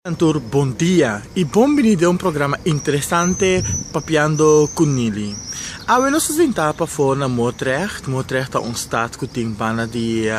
Kantor bon dia y bon bini den un programa interesante Papiando cu Nili. Awe nos a sinta pafo na Moordrecht. Moordrecht ta un stad cu tin banda di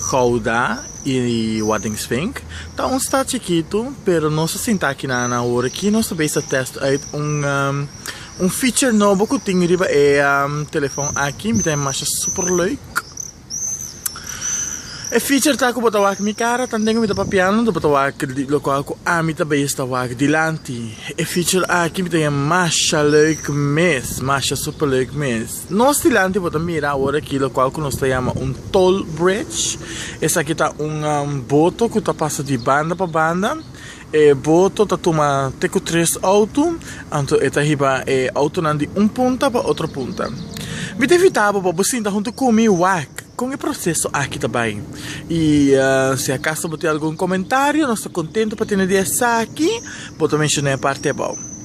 Gouda y Waddinxvink. Ta un stad chikitu pero nos a sinta aki na awor aki nos ta bezig ta test uit un feature nobo cu tin riba e telefon aki. Mi ta masha super leuk. E feature ta ku bo ta wak mi kara tambe ku mi ta papiando do bo ta wak di lokual ku ami ta bai esta wak dilanti e feature aki mi ta bai masha leuk mes masha super leuk mes nos dilanti bo ta mira awor aki lokual ku nos ta yama un tall bridge esaki ta un boto ku ta pasa di banda pa banda. E boto ta tuma te ku tres outo, anto e ta hiba e outonan di un punta pa otro punta. Mi ta invitá bo pa bo sinta huntu ku mi wak kon e proseso aki ta bai. I si akaso bo tin algun komentario, nos ta kontentu pa tene di esaki, bo ta menshoná e parti abou.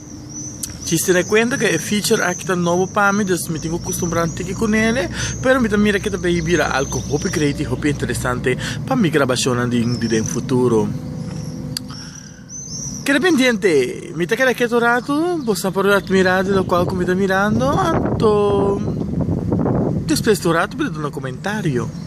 Chiste na cuenta ke e feature aki ta nobo pa mi dus mi tin cu custumbra un tiki cu nele pero mi ta mira ke ta bay bira alco hopi great y hopi interesante pa mi grabacionnan di den futuro keda pendiente mi ta keda keto un ratu bo sa por admira di locual cu mi ta mirando anto despues di un ratu mi ta duna comentario.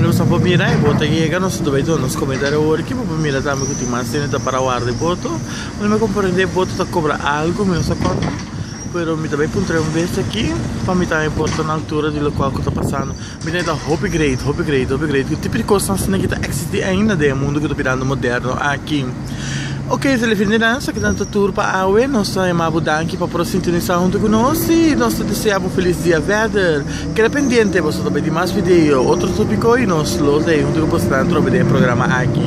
Nos por mira bo ta yega nos ta bay nos comida de hoor ki bo por mira tambe cu tin mas gente ta para warda e boto mi no comprende e boto ta cobra algo mi no sa cona pero mi ta bay puntra un bes aki pa mi tambe por ta na altura di locual cu ta pasando Bini ta hopi great, hopi great, hopi great. Ku tipo di kosnan asina ki ta eksistí ainda den e mundu ku ta birando moderno aki. Oke, se lefin di nos a keda ta tur pa awe. Nos ta yama bo danki pa por sintonisá huntu ku nos i nos ta desea bo felis dia vèder. Keda pendiente, boso ta bai di mas video, otro tópiko i nos lo lei huntu ku boso nan trobe den e programa aki.